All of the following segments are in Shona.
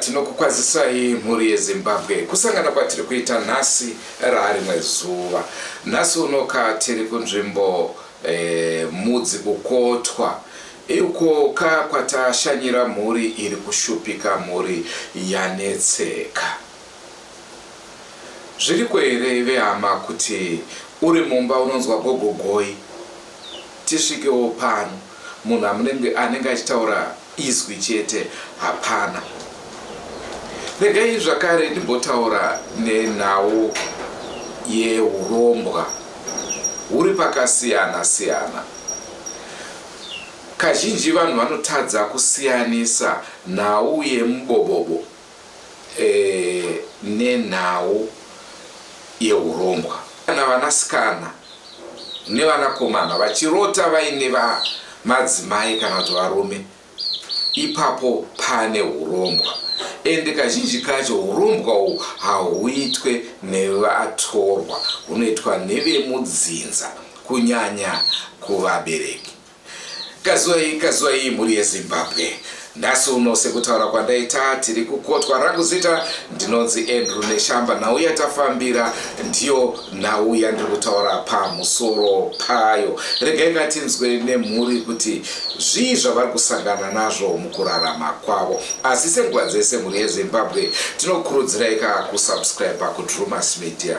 tinokukwazisai mhuri yezimbabwe kusangana kwatiri kuita nhasi raarimwe zuva nhasi unoka tiri kunzvimbo eh, mudzi kukotwa Uko ka kwatashanyira mhuri iri kushupika mhuri yanetseka. Zviriko here vehama kuti uri mumba unonzwa gogo goi tisvikewo pano munhu amunenge anenge achitaura izwi chete hapana. Regai zvakare ndimbotaura nenhau yehurombwa huri pakasiyana siyana. Kazhinji vanhu vanotadza kusiyanisa nhau yemubobobo nenhau yehurombwa. Kana vanasikana nevanakomana vachirota vaine madzimai kana kuti varume ipapo pane hurombwa ende kazhinji kacho hurombwa uhu hahuitwe nevatorwa hunoitwa nevemudzinza kunyanya kuvabereki. Kazwei kazwei mhuri yeZimbabwe. Nhasi uno sekutaura kwandaita tiri kukotwa rangu zita ndinonzi Andrew Neshamba nhau yatafambira ndiyo nhau yandiri kutaura pamusoro payo. Regai ngatinzwe nemhuri kuti zvii zvavari kusangana nazvo mukurarama kwavo. Asi senguva dzese mhuri yeZimbabwe tinokurudziraika kusubscribe kuDrewmas Media.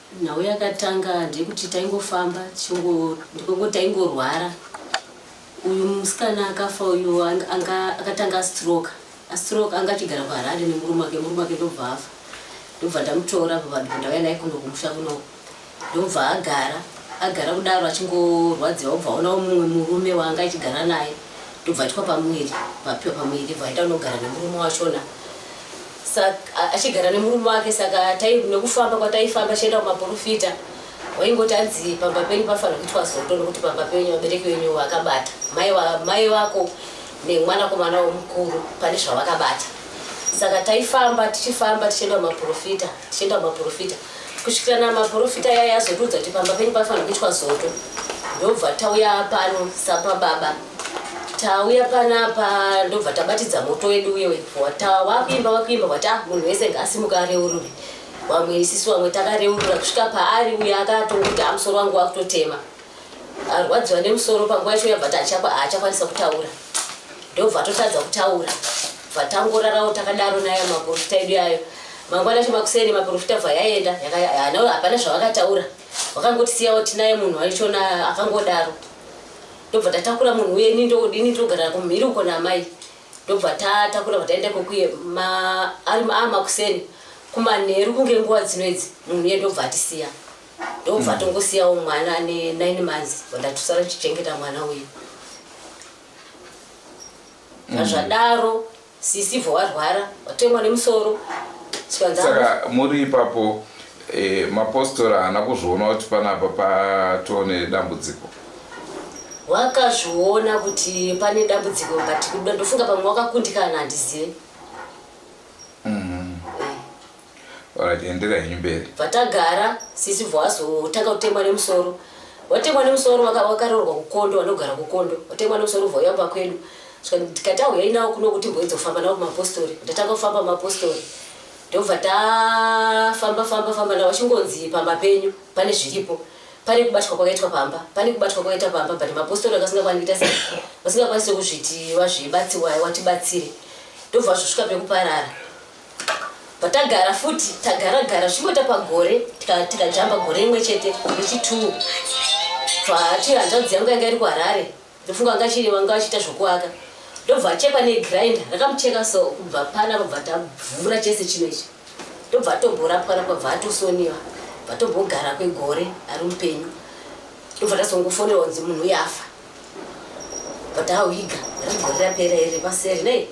Nhau yakatanga ndeyekuti taingofamba ndiko taingorwara. Uyu musikana akafa uyu anga akatanga astroke. Astroke anga achigara kuHarare nemurume wake, murume wake ndobva afa. Ndobva ndamutora apa vanhu ndauya naye kuno kumusha kuno. Ndobva agara, agara kudaro achingorwadziwa obva aonawo mumwe murume waanga achigara naye. Ndobva aitwa pamuviri, papiwa pamuviri bva aita unogara nemurume wachona. Saka achigara nemurume wake saka tai nekufamba kwataifamba chienda kumaporofita waingoti anzi pamba penyu pafanira kuitwa zoto nokuti pamba penyu vabereki venyu vakabata mai wa- mai vako nemwanakomana womukuru pane zvavakabata saka taifamba tichifamba tichienda kumaporofita tichienda kumaporofita kusvikira namaporofita yaya yazotiudza kuti pamba penyu panofanira kuitwa zoto ndobva tauya pano sapababa tauya panapa ndobva tabatidza moto wedu uye wekuvata wakuimba wakuimba vati ah munhu wese ngaasimuka areurure vamwe isisi vamwe takareurura kusvika paari uye akatongoti amusoro ah, wangu wakutotema arwadziwa nemusoro panguva yacho yabva tachakwa haachakwanisa kutaura ndobva totadza kutaura bva tangorarawo takadaro nayo maporofita edu yayo mangwana acho makuseni maporofita bva yaenda hapana zvavakataura vakangotisiyawo tinaye munhu waichona akangodaro ndobva tatakura munhu uye ini ndodini ndogara kumhiri uko namai ndobva tatakura bva taenda kokuye ari makuseni kumanheru kunge nguva dzino idzi munhu uye ndobva atisiya ndobva mm. tongosiyawo mwana ane nine months vandatusara tichichengeta mwana uyu mm. azvadaro mm. sisi bva warwara watemwa nemusoro saka muri ipapo e, mapostora haana kuzviona kuti panapa patoo nedambudziko wakazviona kuti pane dambudziko but ndofunga pamwe wakakundikana handizive Alright, endera henyu mberi. Vatagara sisi vwazotanga kutemwa nemusoro. Watemwa nemusoro waka- wakaroorwa kukondo wanogara kukondo. Watemwa nemusoro vwauya kumba kwedu. Saka ndikati auyai nawo kuno kuti mboidzofamba nawo kumapostori. Ndatanga kufamba kumapostori. Ndobva tafamba famba famba nawo achingonzi pamba penyu pane zviripo. Pane kubatwa kwakaitwa pamba. Pane kubatwa kwakaita pamba but mapostori akasingakwanisi kuita sei. Vasingakwanisi kuzviti vazvibatsiwai watibatsire. Ndobva zvosvika pekuparara. patagara futi tagara gara zvimboita pagore tikajamba gore rimwe chete nechituu bvaati hanzvadzi yangu yanga iri kuharare ndofunga anga chiri vanga vachiita zvokuaka ndobva achekwa negrinder rakamucheka so kubva pana robva tavhura chese chino ichi ndobva atomborapwa rapwa bva atosoniwa bva tombogara kwegore ari mupenyu ndobva tazongofonerwa kunzi munhu uyafa But how he got Gurira pera iri paseri nei?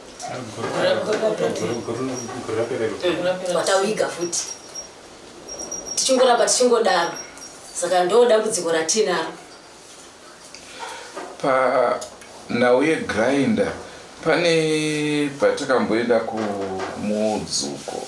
Watawiga futi tichingoramba tichingodaro saka ndo dambudziko ratinaro panhau yegrinder pane patakamboenda kumudzuko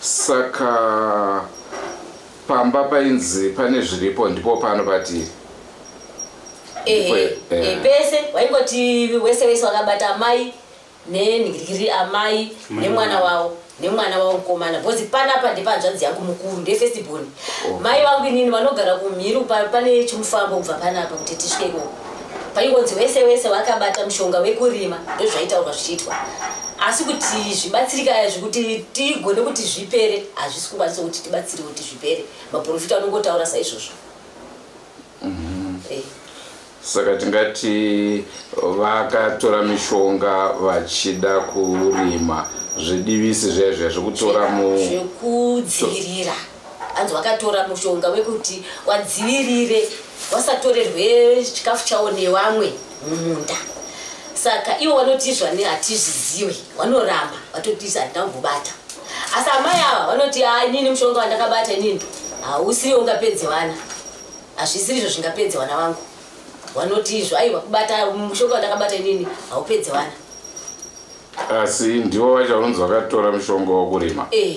Saka pamba painzi pane zviripo ndipo pano patiri. Ndipo- ehe eh. eh, pese waingoti wese wese wakabata amai nenhirikiri amai nemwana wavo nemwana wavo mukomana bhozi panapa ndepanzvanzi yangu mukuru ndefestiborn mai vangu inini vanogara kumhiri pa- pane chimufambo kubva panapa kuti tisvike ikoko Paingonzi wese wese wakabata mushonga wekurima ndozvaitaurwa zvichiitwa asi kuti zvibatsirika izvi kuti tigone kuti zvipere hazvisi kukwanisa kuti tibatsire kuti zvipere maprofita anongotaura saizvozvo mhm. eh. saka tingati vakatora mishonga vachida kurima zvidivisi zvaizvo zvekutora mu zvekudzivirira Hanzi wakatora mushonga wekuti wadzivirire wasatorerwe chikafu chawo nevamwe mumunda. Saka ivo vanoti izvani hatizviziwe, vanoramba vatoti izvi hatina kumbobata. Asi amai ava vanoti haa inini mushonga wandakabata inini hausiri ungapedze vana, hazvisiri izvo zvingapedze vana vangu. Vanoti izvo aiwa kubata mushonga wandakabata inini haupedze vana. Asi ndivo vacho vanonzi vakatora mushonga wokurima. Eh.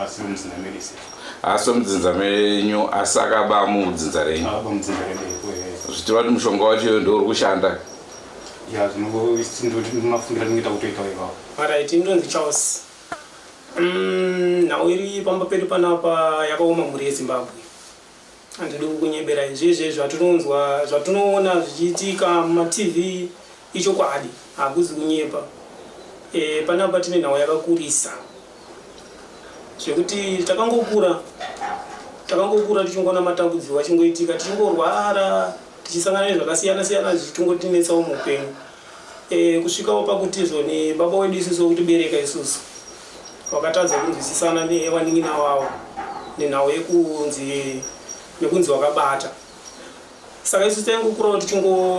Asi mudzinza medu sir. Asi mudzinza menyu asi akaba mudzinza renyu. Akaba mudzinza redu iko here. Zvichireva kuti mushonga wacho ndouri kushanda. Ya zvinongomafungira ndingaita kutoita ipapo. Alright ndonzi Charles. Mm, nhau iri pamba pedu panapa yakaoma mhuri yeZimbabwe. Handidi kukunyeberai zvezve zvatinonzwa zvatinoona zvichiitika mumatv ichokwadi hakuzi kunyepa. E, panapa tine nhau yakakurisa zvekuti takangokura takangokura tichingoona matambudziko achingoitika tichingorwara tichisangana nezvakasiyana siyana zvichitongotinetsawo muupenyu e, kusvikawo pakutizvo nebaba wedu isusu wekutibereka isusu wakatadza kunzwisisana nevanin'ina wavo nenhau yekunzi nekunzi wakabata saka isu taingokurawo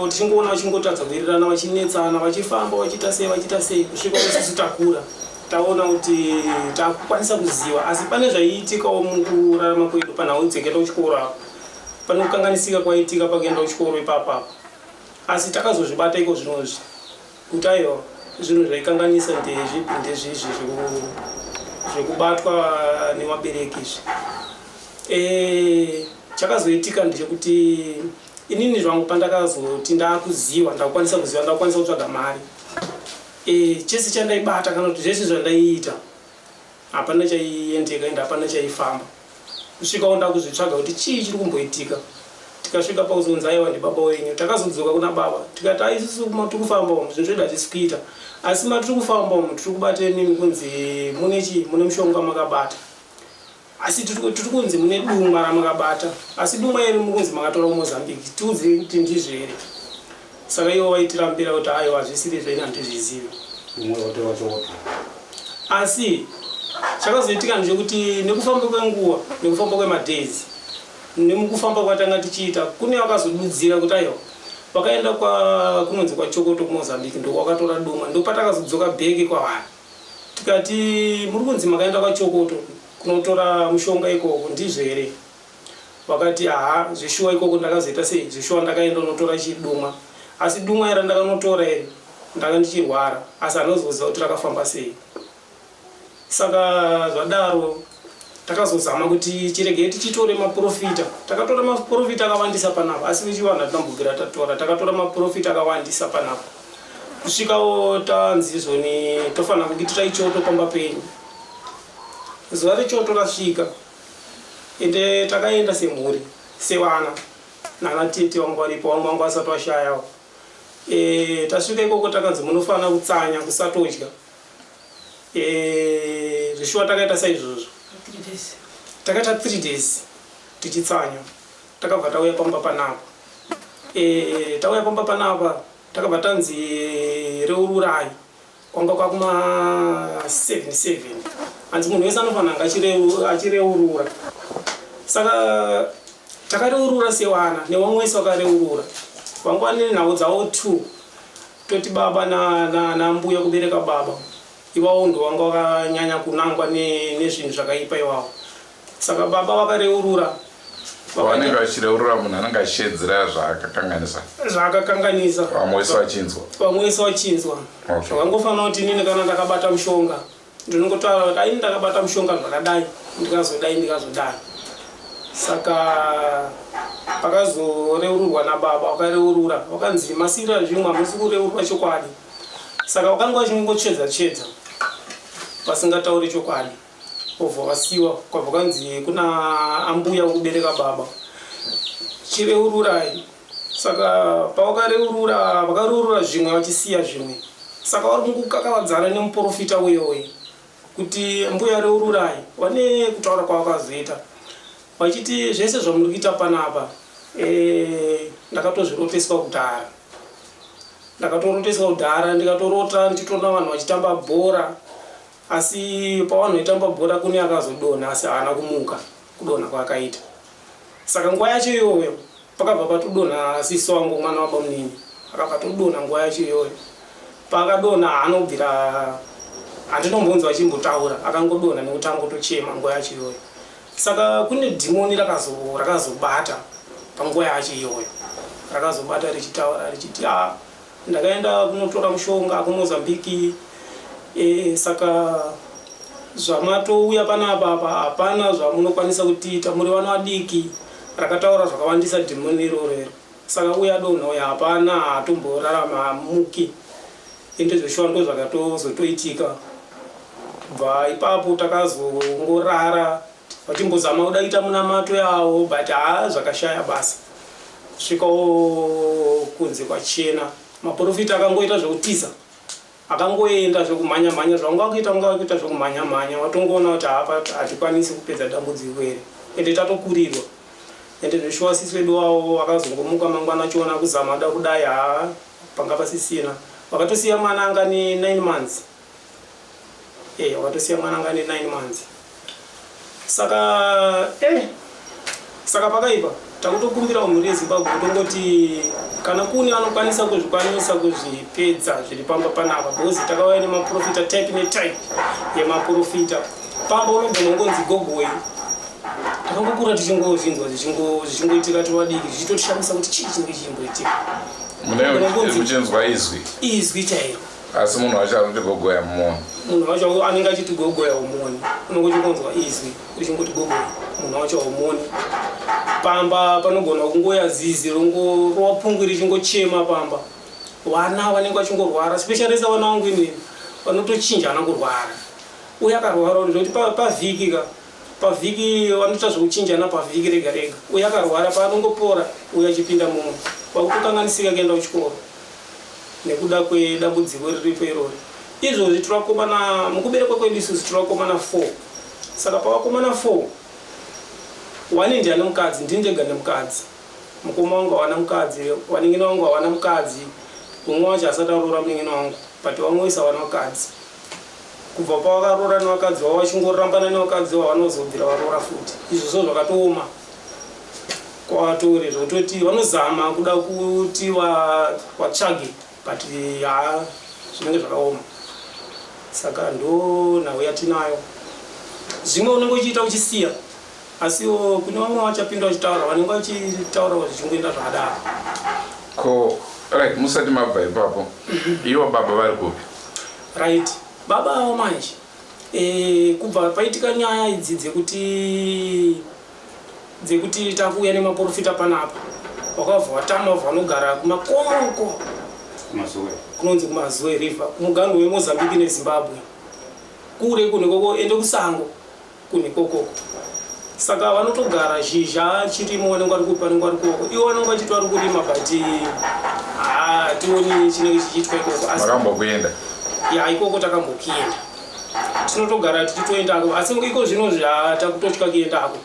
tichingoona vachingotadza kuwirirana vachinetsana vachifamba vachiita sei vachiita sei kusvika isusu takura taona kuti takukwanisa kuziva asi pane zvaiitikawo mukurarama kwedu panhau dzekenda kuchikoro apo pane kukanganisika kwaiitika pakuenda kuchikoro ipapo apo Asi takazozvibata iko zvino izvi kuti aiwa zvinhu zvaikanganisa ndezvipi ndezvizvi zvekubatwa nevabereki izvi e, chakazoitika ndechekuti inini zvangu pandakazoti ndakuziva ndakukwanisa kuziva ndakukwanisa kutsvaga mari e, chese chandaibata kana kuti zvese zvandaiita Hapana chaiendeka and hapana chaifamba kusvika onda kuzvitsvaga kuti chii chiri kumboitika tikasvika pauzonzi aiwa ndibaba wenyu takazodzoka kuna baba tikati ai isusu matiri kufamba umu zvinhu zvedu hatisi kuita asi matiri kufamba umu tiri kubata imimi kunzi mune chii mune mushonga makabata asi tiri kunzi mune duma ramakabata asi duma iri mukunzi makatora kumozambique tiudzei kuti ndizvo here Saka ivo vaitira mpira kuti aiwa hazvisiri zvedu handizvizivi. Umwe otora choto. Asi chakazoitika ndechekuti nekufamba kwenguva nekufamba kwemadays nemukufamba kwatanga tichiita kune vakazodudzira kuti aiwa vakaenda kunonzi kwachokoto kumozambique ndokwakatora doma ndopatakazodzoka bheke kwavari tikati muri kunzi makaenda kwachokoto kunotora mushonga ikoko ndizvo here Vakati haa zveshuwa ikoko ndakazoita sei zveshuwa ndakaenda kunotora chidumwa asi dumwa iri randakanotora iri ndanga ndichirwara asi handina kuzoziva kuti rakafamba sei saka zvadaro takazozama kuti chiregei tichitore maporofita takatora maporofita akawandisa panapa asi vechivanhu hatina kumbobvira tatora takatora maporofita akawandisa panapa kusvikawo tanzi izvoni tofanira kuitira ichoto pamba penyu zuva rechoto rasvika Ende takaenda semhuri sevana nana tete vanga varipo vamwe vanga vasati vashayawo. Eeh tasvika ikoko takanzi munofanira kutsanya kusatodya eeh zveshuwa takaita saizvozvo. Takaita three days tichitsanya takabva tauya pamba panapa eeh tauya pamba panapa takabva tanzi reururai Kwanga kwakuma 77 hanzi munhu wese anofanira anga achireurura saka takareurura sewana newamwe wese wakareurura vanga vane nhau dzavo two toti baba nambuya kubereka baba ivawo ndo vanga vakanyanya kunangwa nezvinhu zvakaipa iwawo Saka baba vakareurura vanenge vachireurura munhu anenge achiedzera zvaakakanganisa zvaakakanganisa vamwe wese vachinzwa vamwe wese vachinzwa zvakangofanira kuti inini kana ndakabata mushonga ndinongotaura kuti aini ndakabata mushonga zvakadai ndikazodai ndikazodai saka pakazoreururwa nababa wakareurura wakanzi masira zvimwe hamusi kureurwa chokwadi saka wakanga wachinongotsvedza tsvedza vasingatauri chokwadi Obva vasiwa kwabva kwanzi kuna ambuya ukubereka baba chireururai saka pavakareurura vakareurura zvimwe vachisiya zvimwe saka vari kungukakavadzana nemuprofita uyoyi kuti mbuya reururai vane kutaura kwavakazoita vachiti zvese zvamuri kuita panapa eh, ndakatozviroteswa kudhara ndakatoroteswa kudhara ndikatorota ndichitoona vanhu vachitamba bhora Asi pavanhu vaitamba bhora kune akazodonha asi haana kumuka kudonha kwaakaita. Saka nguva yacho iyoyo pakabva patodonha sisi wangu mwana wabamunini akabva atodonha nguva yacho iyoyo. Paakadonha haana kubvira handinombonzwa achimbotaura akangodonha nekuti angotochema nguva yacho iyoyo. Saka kune dhimoni rakazo rakazobata panguva yacho iyoyo. Rakazobata richitaura richiti ah Ndakaenda kunotora mushonga kuMozambique eh, saka zvamatouya panapa apa hapana zvamunokwanisa kutiita muri vana vadiki rakataura zvakawandisa dhimoni iroro iro saka uya donha uya hapana haatomborarama hamuki ende zveshuwa ndo zvakatozotoitika bva ipapo takazongorara Vachimbozama kuda kuita munamato yawo but haa zvakashaya basa kusvikawo kunze kwachena. Maporofita akangoita zvekutiza akangoenda zvekumhanya mhanya zvaunga kuita unga kuita zvekumhanya mhanya watongoona kuti hapa hatikwanisi kupedza dambudziko iri ende tatokurirwa ende zveshuwa sisi wedu wawo wakazongomuka mangwana achiona kuzama da kudai haa panga pasisina wakatosiya mwana anga ne 9 months Eh watosiya mwana anga ane 9 months. Saka eh saka pakaipa takutokumbirawo mhuri yezimbabwe kutongoti kana kune anokwanisa kuzvikwanisa kuzvipedza zviri pamba panapa because takauya nemaprofita type netype yemaprofita pamba unogona ungonzi gogoi takangokura tichingozvinzwa zvichingoitika tivadiki zvichitotishamisa kuti chii chinenge chichingoitika munechinzwa izwi izwi chairo asi munhu wacho anoti gogoya mumoni munhu wacho anenge achiti gogoya umoni unongoti kunzwa izwi uchingoti gogoya munhu wacho umoni pamba panogona kungoya zizi rongorova pungwi richingochema pamba vana vanenge vachingorwara specialisa vana vangu inini vanotochinjana kurwara uye akarwara uri zvekuti pavhiki ka pavhiki vanoita zvekuchinjana pavhiki rega rega uye akarwara paanongopora uye achipinda mumwe vakutokanganisika kuenda kuchikoro nekuda kwedambudziko riripo irori. Izvozvi tiri vakomana, mukuberekwa kwedu isusu tiri vakomana four. Saka pavakomana four, one ndiani mukadzi? Ndini ndega ndine mukadzi. Mukoma wangu hawana mukadzi, vanin'ina vangu hawana mukadzi, umwe wacho haasati aroora munin'ina wangu but vamwe vese hawana vakadzi. Kubva pavakaroora nevakadzi vavo vachingorambana nevakadzi vavo vanozodzira varoora futi. Izvozvo zvakatooma. kwavatore zvekutoti vanozama kuda kuti vatsvage but haa zvinenge zvakaoma saka ndo nhau yatinayo zvimwe unenge uchiita uchisiya asiwo kune vamwe vachapinda vachitaura vanenge vachitaura zvichingoenda zvakadaro ko right musati mabva ipapo ivo baba vari kupi right baba avo manje e, kubva paitika nyaya idzi dzekuti dzekuti takuuya nemaporofita panapa wakabva watama wabva wanogara kumakomo uko kunonzi kumazoe river kumuganhu wemozambique nezimbabwe kure kunekoko ende kusango kunekokoko saka vanotogara zhizha chirimo vanenge vari kupa vanenge vari kuoko ivo vanenge vachiti vari kurima but hationi chinenge chichiitwa ikoko asi vakambokuenda ya ikoko takambokuenda tinotogara tichitoendako asi iko zvino takutotya kuendako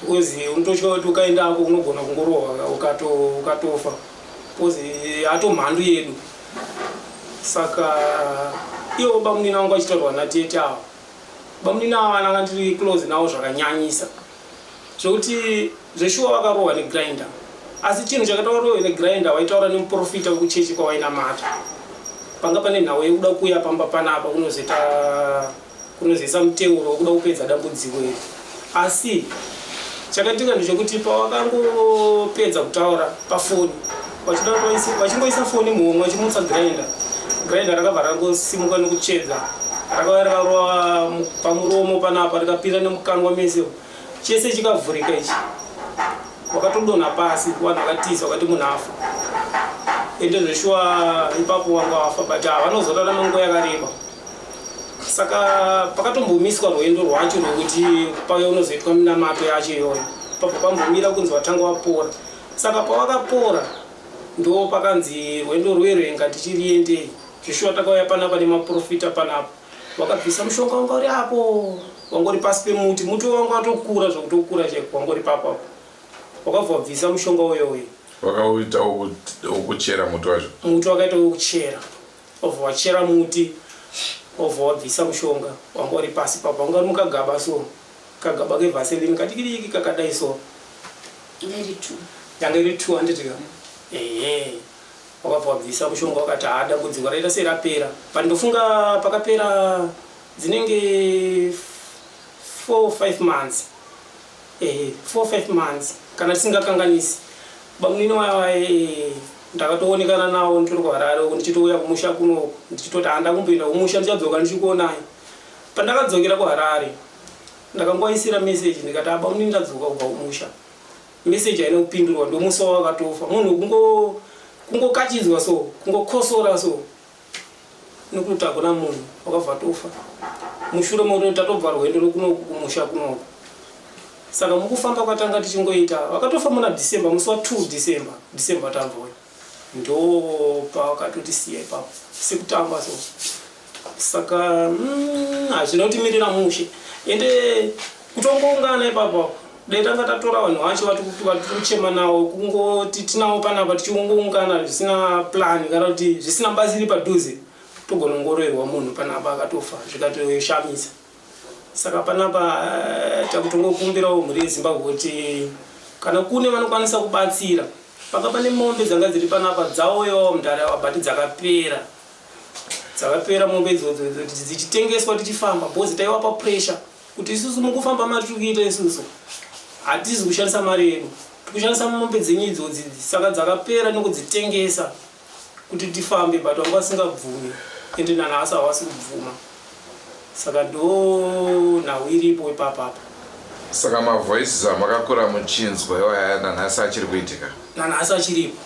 because unototya kuti ukaendako unogona kungorohwa ukatofa because hato mhandu yedu saka iwo bamunini vangu vachitaurwa natete avo bamunini avo vananga ndiri close navo zvakanyanyisa Zvekuti zveshuwa wakarohwa ne grinder asi chinhu chakati warohwe ne grinder waitaura nemuporofita wekuchechi kwawainamata panga pane nhau yekuda kuuya pamba panapa kunozoita kunozoisa muteuro wekuda kupedza dambudziko iri asi chakaitika ndechekuti pawakangopedza kutaura pafoni vachingoisa foni muhomwe vachimutsa grainda grainda rakabva rangosimuka nekutsvedza rakava rakarova pamuromo panapa rikapinda nemukangwa mese chese chikavhurika ichi wakatodonha pasi vanhu vakatiza vakati munhu afa ende zveshuwa ipapo vanga vafa but havanozorarama nguva yakareba saka pakatombomiswa rwendo rwacho rwekuti pave unozoitwa minamato yacho iyoyo pabva pambomira kunzi vatanga vapora Saka pawakapora ndo pakanzi rwendo rwero inga tichiriendei zvishuwa takauya panapa nemaprofita panapa wakabvisa mushonga wanga uri apo wanga uri pasi pemuti muti wanga watokura zvekutokura chaiko wanga uri papo apo wakabva wabvisa mushonga uyo uyo wakauita ukuchera muti wacho muti wakaita ukuchera obva wachera muti obva wabvisa mushonga wanga uri pasi papo wanga uri mukagaba so Kagaba kevaseline kadikidiki kakadai so. Yanga iri two. Yanga iri two handiti ka? Ehe. Wakabva wabvisa mushonga wakati haa dambudziko raita serapera but ndofunga pakapera dzinenge four five months ehe four five months kana tisingakanganisi bamunini waye ndakatoonekana nawo ndiri kuharare uku ndichitouya kumusha kunoku ndichitoti handa kumboenda kumusha ndichadzoka ndichikuonai Pandakadzokera kuHarare ndakangovaisira message ndikati haa bamunini ndadzoka kubva kumusha. Message haina kupindurwa ndomusi wavakatofa. Munhu kungo kungokachidzwa so kungokosora so nekuti hakuna munhu wakabva atofa. Mushure mekuti tatobva rwendo rwekunoku kumusha kunoku. Saka mukufamba kwatanga tichingoita vakatofa muna December musi wa 2 December December tabva uyu. Ndoopawakatotisiya ipapo sekutamba so saka mm, hazvina kuti mirira mushe ende kutongoungana ipapo apo dai tanga tatora vanhu vacho vatikuchema nawo kungoti tinawo panapa tichiongoungana zvisina plan kana kuti zvisina bazi iri padhuze togonongoroerwa munhu panapa akatofa zvikatoshamisa saka panapa eh, takutongokumbirawo mhuri yezimbabwe kuti kana kune vanokwanisa kubatsira paka pane mombe dzanga dziri panapa dzauyawo mudare ava but dzakapera dzakapera mombe idzodzo kuti dzichitengeswa tichifamba bcoz taiwapa pressure kuti isusu mukufamba mari tiri kuita isusu hatizi kushandisa mari yedu tikushandisa mombe dzenyu idzodzi saka dzakapera nekudzitengesa kuti tifambe but vanga vasingabvumi ende nanhasi havasi kubvuma saka ndo nhau iripo ipapapa Saka ma voices amakakura muchinzwa iwaya nanhasi achiri kuitika? nanhasi achiripo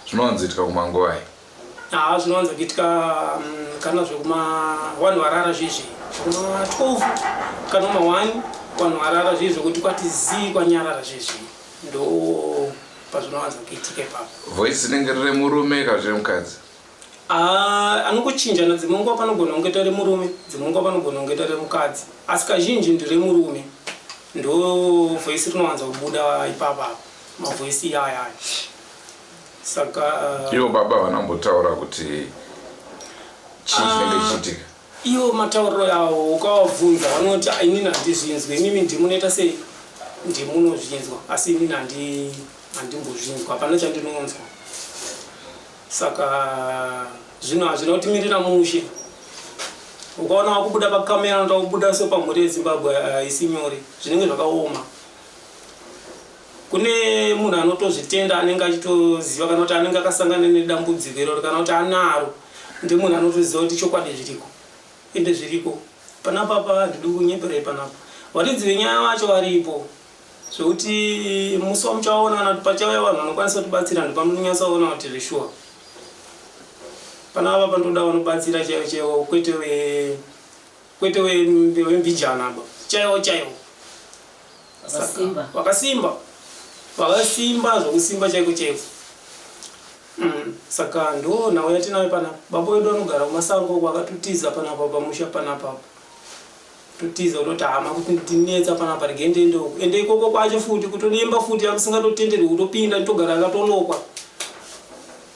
Zvinowanzoitika kumanguvai? haa zvinowanza kuitika mm, kana zvekuma vanhu varara zviye zviye zvekuma 12 kana ma 1 vanhu varara zviye zvekuti kwati zii kwanyarara zviye zviye ndo pazvinowanza kuitika ipapo voice rinenge riri murume kana zviri mukadzi Ah, anongochinjana dzimwe nguva panogona kungoita remurume dzimwe nguva panogona kungoita remukadzi asi kazhinji ndiremurume ndo voisi rinowanza kubuda ipapa apo mavoisi iyaya aya saka ah, ivo baba vanambotaura kuti chii chinenge chichiitika Iwo matauriro awo ukawabvunza vanoti ah, inini handizvinzwe imimi ndimunoita sei ndimunozvinzwa asi inini handimbozvinzwa hapana chandinonzwa saka zvino hazvina kutimirira mushe ukaona wakubuda pakamera notakubuda so pamhuri yezimbabwe haisi nyore zvinenge zvakaoma Kune munhu anotozvitenda anenge achitoziva kana kuti anenge akasangana nedambudziko iroro kana kuti anaro ndemunhu anotoziva kuti chokwadi zviriko ende zviriko panapa pa handidi kunyeperei panapa varidzi venyaya vacho varipo zvekuti musi wamuchaona kana kuti pachauya vanhu vanokwanisa kutibatsira ndipamunonyatsaona kuti zveshuwa panapa pandoda vanobatsira chaivo chaivo kwete Kwete wembijana aba chaiwo chaiwo vakasimba vakasimba zvokusimba chaiko chaiko mm, saka ndo nhau yatinayo panapa baba wedu anogara kumasango uko akatotiza panapa pamusha panapa totiza kutoti hama kuti ndinetsa panapa rege ndende uko ende ikoko kwacho futi kutodimba futi akusingatotenderwi kutopinda nditogara akatonokwa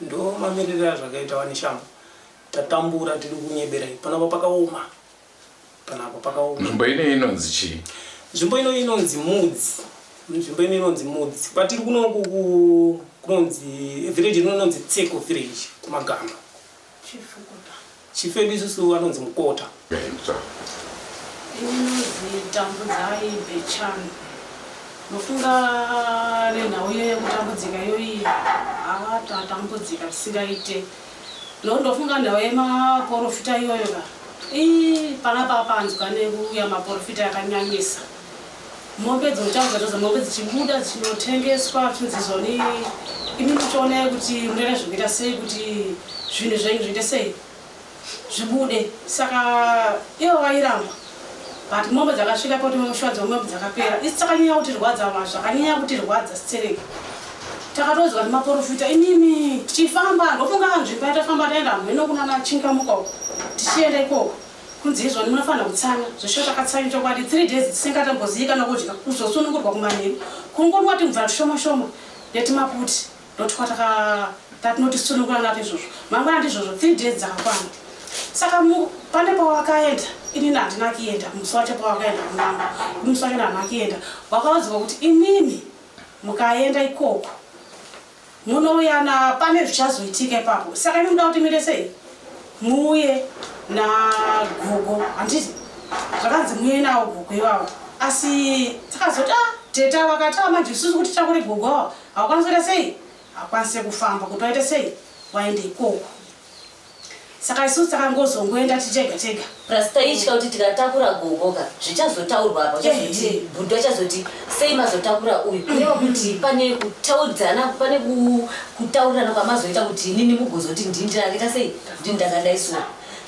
Ndoo mamirire azvakaita wani shamhu tatambura tiri kunyeberai panapa pakaoma panapa pakaoma. Nzvimbo ino inonzi chii? Nzvimbo ino inonzi Mudzi nzvimbo ino inonzi Mudzi kwatiri kuno ku- ku- kunonzi village rino inonzi Tseko village kumagamba. Chifukuta. Chief vedu isusu vanonzi Mukota. Ini ndinonzi Tambudzai Bechani. Mofunga nenhau iyo yekutambudzika iyoyi haa tatambudzika zvisingaite nokuti ndofunga nhau yemaporofita iyoyo ka ii panapa panzwa nekuuya maporofita yakanyanyisa. mombe dzotanga dzoza mombe dzichibuda dzichinotengeswa tinzizwa ni imi muchionai kuti munoita zvekuita sei kuti zvinhu zvenyu zviite sei zvibude saka ivo vairamba but mombe dzakasvika poti mushwadzi wemombe dzakapera isi takanyanya kutirwadza ma zvakanyanya kutirwadza sitsereki takatoziva kuti maporofita imimi tichifamba ndofunga nzvimbo yatafamba taenda hamheno kunana chingamuka uko tichienda ikoko Kunzi izvoni munofanira kutsanya zveshuwa takatsanyu chokwadi 3 days tisingatombozivi kana kudya kuzosunungurwa kumanheru kungonwa timvura tushoma shoma netimaputi ndotukwataka tatinotisunungura nato izvozvo mangwana ndizvozvo 3 days dzakakwana saka pane pawakaenda inini handina kuenda musi wacho pawakaenda kunama musi wacho ndandina kuenda wakaudzwa kuti imimi mukaenda ikoko Munouya na pane zvichazoitika ipapo saka imi muda kuti muite sei muuye na gogo handiti zvakanzi muuye nawo gogo ivavo asi tikazoti a ah, teta vakati a ah, manje isusu kuti takure gogo ava hawakwanisi kuita sei hakwanise kufamba kuti waite sei waende ikoko saka isu takangozongoenda tichega chega plus taitya kuti tikatakura gogo ka zvichazotaurwa apa chazoti bhudhu achazoti sei mazotakura uyu kureva mm-hmm. kuti pane kutaudzana pane kutaurirana kwamazoita kuti inini mugozoti ndini ndakaita sei ndini ndakadai so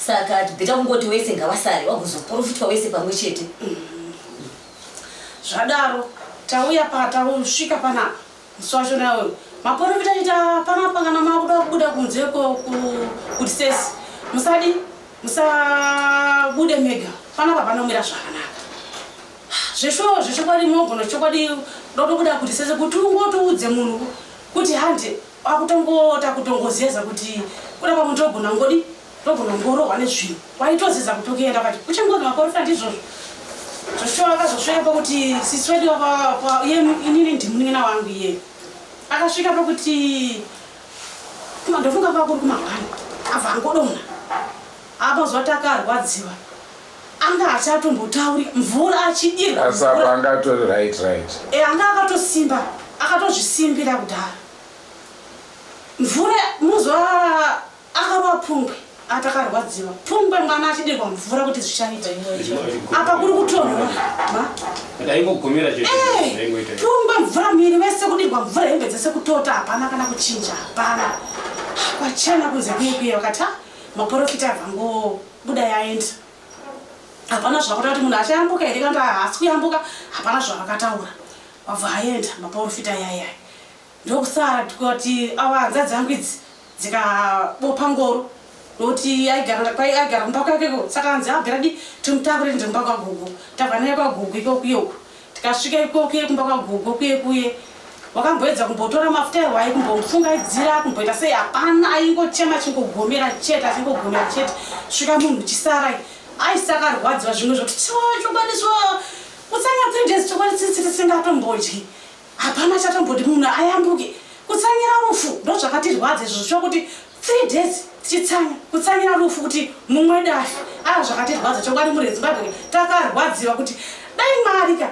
saka tibheta kungoti wese ngavasare wagozoporofitwa wese pamwe chete mm-hmm. zvadaro tauya patausvika panapa Mswasho nawe maporofita ita pano pangana makuda kubuda kunze kuti sesi musadi musabude mega panapa panomira zvakanaka zveshuwa zvechokwadi mogona chokwadi dotobuda kuti sese kuti ungotoudze munhu kuti handi akutongoota kutongozeza kuti kuda pamunhu togona ngodi Ndogona kungorohwa nezvinhu waitoziza kuti ukienda kwati uchangona maporofita ndizvozvo zvosvika vakazosvika pakuti sisi wedu inini ndimunin'ina wangu iye akasvika pakuti ndofunga kwava kuri kumangwana abva angodonha apa zuva takarwadziwa anga achatombotauri mvura achidirwaasapa anga atori right right e anga akatosimba akatozvisimbira kudhara mvura muzuva Akarova pungwe ati akarwadziwa pungwe mwana achidirwa mvura kuti zvichaita apa kuri kutonhora ndaingogomera chete eh, pungwe mvura miri wese kudirwa mvura hembe dzese kutota hapana kana kuchinja hapana kwachena kunze kuye kuye vakati ah, maporofita avango buda yaenda hapana zvakota kuti munhu achayambuka here kanda haasi kuyambuka hapana zvavakataura wabva aenda maporofita yayaya Ndokusara tikati ava hanzvadzi yangu idzi dzikabopa ngoro nokuti aigara kwai aigara kumba kwake ko saka hanzi abvira di timutakure tiende kumba kwagugu tabva naye kwagugu iko kuye uku tikasvika iko kuye kumba kwagugu kuye kuye wakamboedza kumbotora mafuta ehwai kumbomufungaidzira kumboita sei hapana aingochema chingogomera chete achingogomera chete svika munhu chisarai aisakarwadziwa zvimwe zvokuti chokwadi so utsanga three days chokwadi tsitsiti singatombodyi Hapana chatomboti munhu ayambuke kutsamira rufu ndozvakatirwadza izvo zvichiva kuti three days tichitsanya kutsamira rufu kuti mumwe dafi aa zvakatirwadza chokwadi muri Zimbabwe takarwadziwa kuti dai mari ka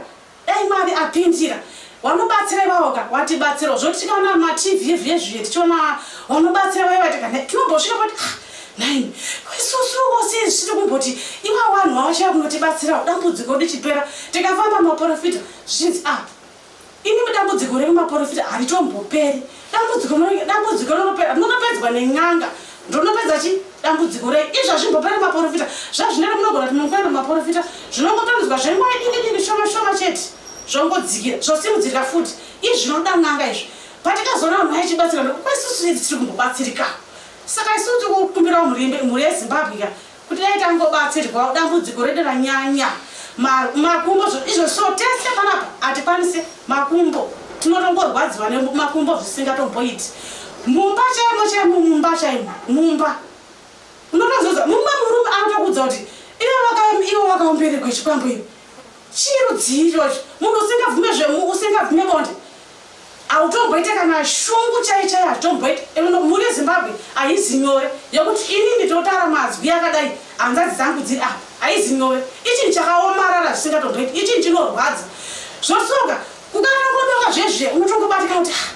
dai mari apindira wanobatsira ivavo ka watibatsira zvotika na matv yedu yezviye tichiona wanobatsira vaiva tika tinombosvika kuti ah, nhaimi isusu vose zvisiri kumboti iva vanhu vavachava kunotibatsira dambudziko richipera tikafamba maporofita zvichinzi a ah, Inimi dambudziko renyu maporofita haritomboperi. Dambudziko renyu dambudziko rinopera munopedzwa nen'anga. Ndonopedza chi dambudziko renyu. Izvi hazvimboperi maporofita. Zvazvinero munogona kuti mukwenda maporofita zvinongotonzwa zvenguva diki diki shoma shoma chete. Zvongodzikira zvosimudzirika futi. Izvi zvinoda n'anga izvi. Patikazoona vanhu vaichibatsira kwesusu tiri kumbobatsirikawo. Saka isu tikukumbirawo murimbe mhuri yeZimbabwe ka Kuti dai tangobatsirwawo dambudziko redu ranyanya ma- makumbo zvo- izvo so tese panapa hatikwanise makumbo tinotongorwadziwa nemakumbo zvisingatomboiti mumba chaimo chaimo mumba chaimo mumba unotozoza mumwe murume anotokuudza kuti iwe waka- iwe wakaomberegwa chikwambo iwe chii rudzii ichocho munhu usingabvume zvemu usingabvume bonde Hautomboite kana shungu chai chai hatitomboite and mhuri yeZimbabwe haizi nyore yekuti ini nditotara mazwi akadai hanzadzi dzangu dziri apa haizi nyore ichinhu chakaomarara zvisingatomboite ichinhu chinorwadza zvosoka kukanangodoka zvezviya unotongobatika kuti ah,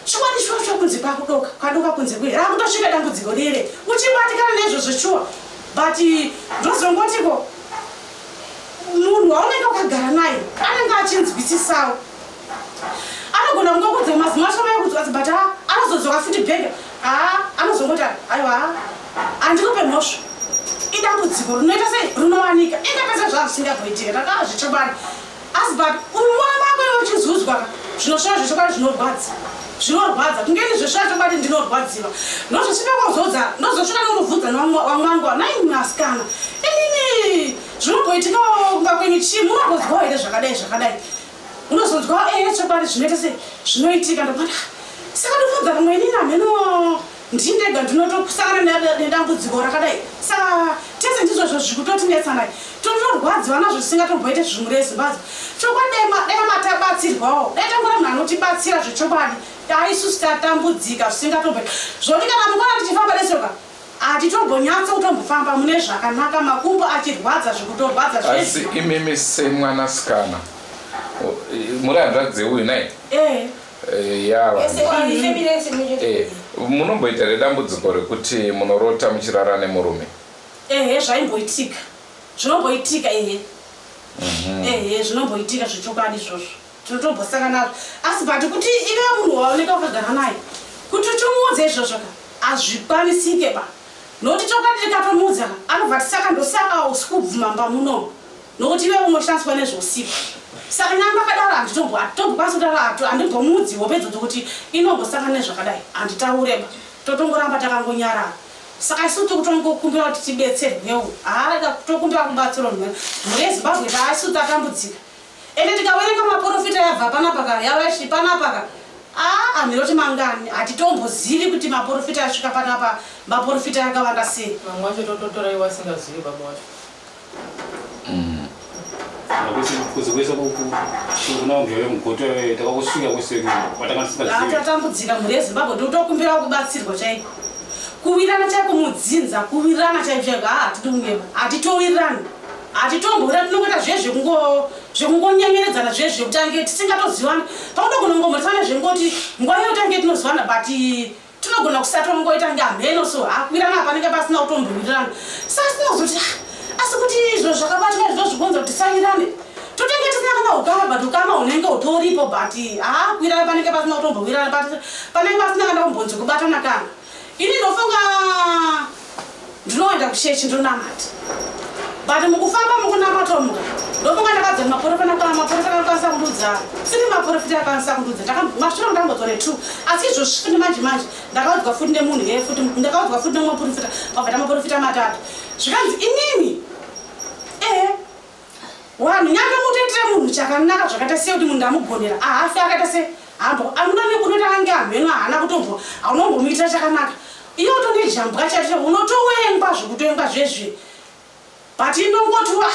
chokwadi shuwa shuwa kunze kwakudoka kwadoka kunze kuye rakutosvika dambudziko rere uchibatikana nezvozvo shuwa but ndozongotiko munhu waunenge wakagara naye anenge achinzwisisawo anogona kunge kudze mazimo acho mai kudzwadzi but haa anozodzoka futi bhega haa anozongoti aiwa haa handikupe mhosva idambudziko rinoita sei rinowanika inga pese zvaa zvisingagoitika takaa zvechokwadi asi but umwana ako iwe uchizuzwa zvinosvira zvechokwadi zvinorwadza zvinorwadza kunge ini zvesvira chokwadi ndinorwadziwa ndozvesvipekwazoudza ndozosvika neunobvunza newamwanguwa nai masikana inini zvinogoitikawo kumba kwenyu chii munogozwawo here zvakadai zvakadai unozonzwa eya chokwadi zvinoita se zvinoitika ndokuona saka ndofudza vamwe ini namheno ndini ndega ndinotokusangana nedambudziko rakadai saka tese ndizvozvo zvikutotinetsanai totorwadziwa nazvo tisingatomboite zvimwe rezimbabwe chokwadi dai matabatsirwawo dai tangora munhu anotibatsira zvechokwadi dai isusu tatambudzika zvisingatomboita zvoti kana mukona tichifamba nesoka Hatitombonyatso kutombofamba mune zvakanaka makumbo achirwadza zvikutorwadza zvese. Asi imimi semwana sikana muri hanzvadzi uyu nai? Eh. Eh, ya eh, munomboita redambudziko rekuti munorota muchirara nemurume? Ehe zvaimboitika. Zvinomboitika ehe. Mhm. Ehe zvinomboitika zvechokwadi izvozvo. tinotombosanga nazvo asi but kuti ive munhu waoneka wakagara naye kuti uchimuudza izvozvo ka hazvikwanisike ba nokuti chokwadi tikatomuudza ka anobva tisaka ndosaka usi kubvuma mba munomu nokuti ive unoshandiswa nezvousiku saka nyamba akadaro handitombokwanisa kutaura handimbomuudzi hope dzodzo kuti inombosanga nezvakadai handitaure ba totongoramba takangonyarara saka isu tikutongokumbira kuti tibetserwewo haa tokumbira kubatsirwa mhuri yezimbabwe taaisu tatambudzika Ende tikawerenga maporofita yabva panapa ka yavashi panapa ka aa miroti mangani hatitombozivi kuti maporofita yasvika panapa maporofita yakavanda sei. Vamwe vacho tototora ivo vasingazivi baba vacho. Kuzi kuisa kuna umbi wave mugoto wave takakusvika kuseku watanga tisingazivi. Tatambudzika mhuri yeZimbabwe totokumbira kubatsirwa chaiko. Kuwirana chaiko mudzinza kuwirana chaiko chaiko haa hatidi kungema hatitowirirani. Hatitomboona tinongoita zviye zvekungo zvekungonyengeredzana zviye zvekuti ange tisingatozivani. Pamwe togona kungomhoresana nezvekungoti nguva iyo tange tinozivana but tinogona kusatwa kungoita kunge hamheno so hakwirana hapanenge pasina kutombowirirana. Saka tinozoti ah, asi kuti izvo zvakabatwa izvo zvikonza kuti tisawirirane totenge tisina kana ukama but ukama hunenge hutoripo but hakwirana panenge pasina kutombowirirana but panenge pasina kana kumbonzi kubatana kana Ini ndofunga ndinoenda kuchechi ndonamata but mukufamba mukunamata umu ndofunga ndakadzana maporofita nakwana maporofita akakwanisa kundudza siri maporofita akakwanisa kundudza masviro ndambodzwa ne two asi izvozvi futi manje manje ndakaudzwa futi nemunhu yeye futi ndakaudzwa futi nemwe maporofita mabvata maporofita matatu zvikanzi inini ehe Wanhu nyanga mutoitire munhu chakanaka zvakaita sei kuti munhu ndamugonera ahafi akaita sei hambo amuna nekunoita ange amheno haana kutombo haunombomuitira chakanaka iye utonge jambwa chacho unotowengwa zvekutowengwa zvezve but inongoti wa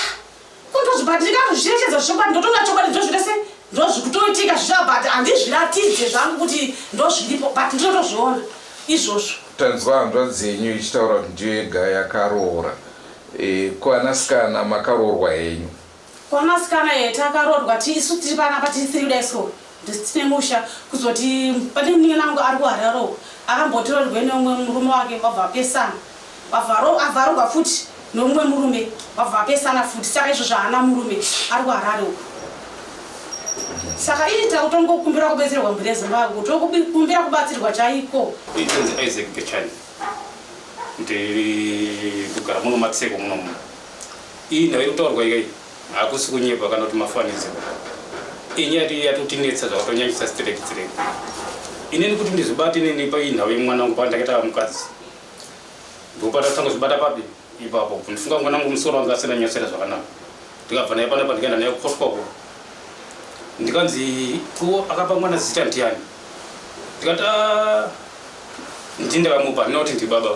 kundozvi but ndikazvicherechedza zvichokwadi ndotonga chokwadi ndozvita sei ndozvikutoitika zvicha but handizviratidze zvangu kuti ndozviripo but ndinotozviona izvozvo tanzwa hanzvadzi yenyu ichitaura kuti ndiyo yega yakaroora Eh, ko anasikana makaroorwa henyu. Kwanasikana here takaroorwa ti- isu tiri panapa tiri three kudai so ndis- tine musha kuzoti pane munin'ina wangu ari kuhararo akambotorerwe neumwe murume wake vabva vapesana Vavharo- avharorwa futi neumwe murume vabva vapesana futi saka izvo zvaana murume ari kuharare uko saka ii takutongokumbira kubetserwa mhuri yezimbabwe tokukumbira kubatsirwa chaiko Itonzi Isaac Gechani. ndiri kugara muno matseko muno muno iyi nhau iri kutaurwa ikai hakusi kunyepa kana kuti mafanidzo inyaya ti yatotinetsa zvakatonyanyisa straight straight inini kuti ndizvibate inini paiyi nhau yemwana wangu pandakaita mukadzi ndopatatanga zvibata papi ipapo ndifunga mwana wangu musoro wanga asina nyasera zvakanaka ndikabva naye panapa ndikaenda naye kukoswa uko ndikanzi ko akapa mwana zita ndiani ndikati ah, ndindakamupa not ndibaba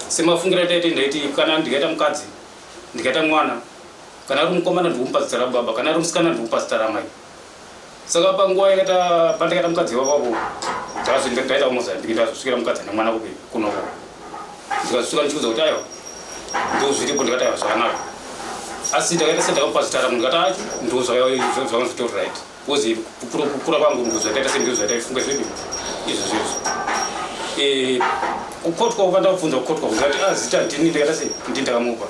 semafungira taiti ndaiti kana ndikaita mukadzi ndikaita mwana kana ari mukomana ndikumupa zita rababa kana ari musikana ndikumupa zita ramai Saka panguva yakaita pandakaita mukadzi wako apo ndakazoti ndakaita kumozambiki ndakazosvikira mukadzi ane mwana kupi kunoko ndikazosvika ndichikudza kuti aiwa ndozviripo ndikati aiwa zvakanaka asi ndakaita sendakapazitara munhu ndikati acho ndozvakazvanga zvitori right bcause kukura kwangu ndozvakaita sendozvaita ifunge zvedu izvo zvezvo eh, kukotwa kuka ndakubvunza kukotwa ndikati a ah, zita ndini ndikaita se ndi ndakamupa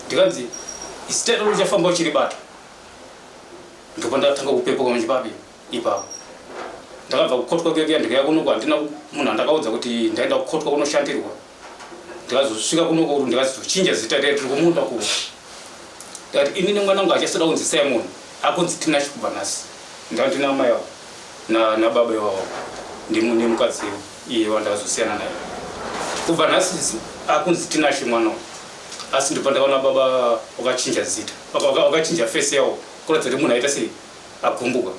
ndikanzi zita rino richafamba uchiribata ndipo ndatanga kupepuka muchibabe ipapo ndakabva kukotwa kuya kuya ndikaya kuno kwandina munhu andakaudza kuti ndaenda kukotwa kunoshandirwa ndikazosvika kuno kuru ndikazochinja zita riya tiri kumunda kuno ndikati inini mwana wangu achasada kunzi simon akunzi tinashe kubva nhasi ndandina amai avo nababa ivavo nemukadzi iye wandakazosiyana naye kubva nhasi akunzi tinashe mwana asi ndibva ndakaona baba wakachinja zita vakachinja face yavo kuratidza kuti munhu aita sei agumbuka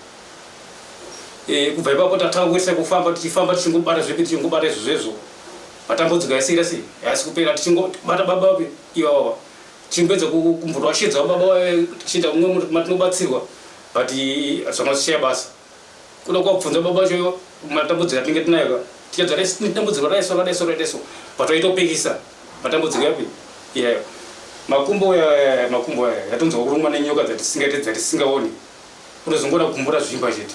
eh, kubva ipapo tatanga kuitisa kufamba tichifamba tichingobata zvepi tichingobata izvo zvezvo matambudziko yasira sei haasi kupera tichingobata baba vapi ivavava tichingopedza kumbotoashidza baba vaye tichiita kumwe matinobatsirwa but zvamasichaya basa Kuda kwakubvunza baba vacho matambudziko atinenge tinayo ka tichadzara isi tine dambudziko raiso rakadaiso rakadaiso but waitopikisa matambudziko yapi iyayo makumbo eh, makumbo eh, yatonzwa kurumwa nenyoka dzatisingaite dzatisingaoni unozongoda kumbura zvimba chete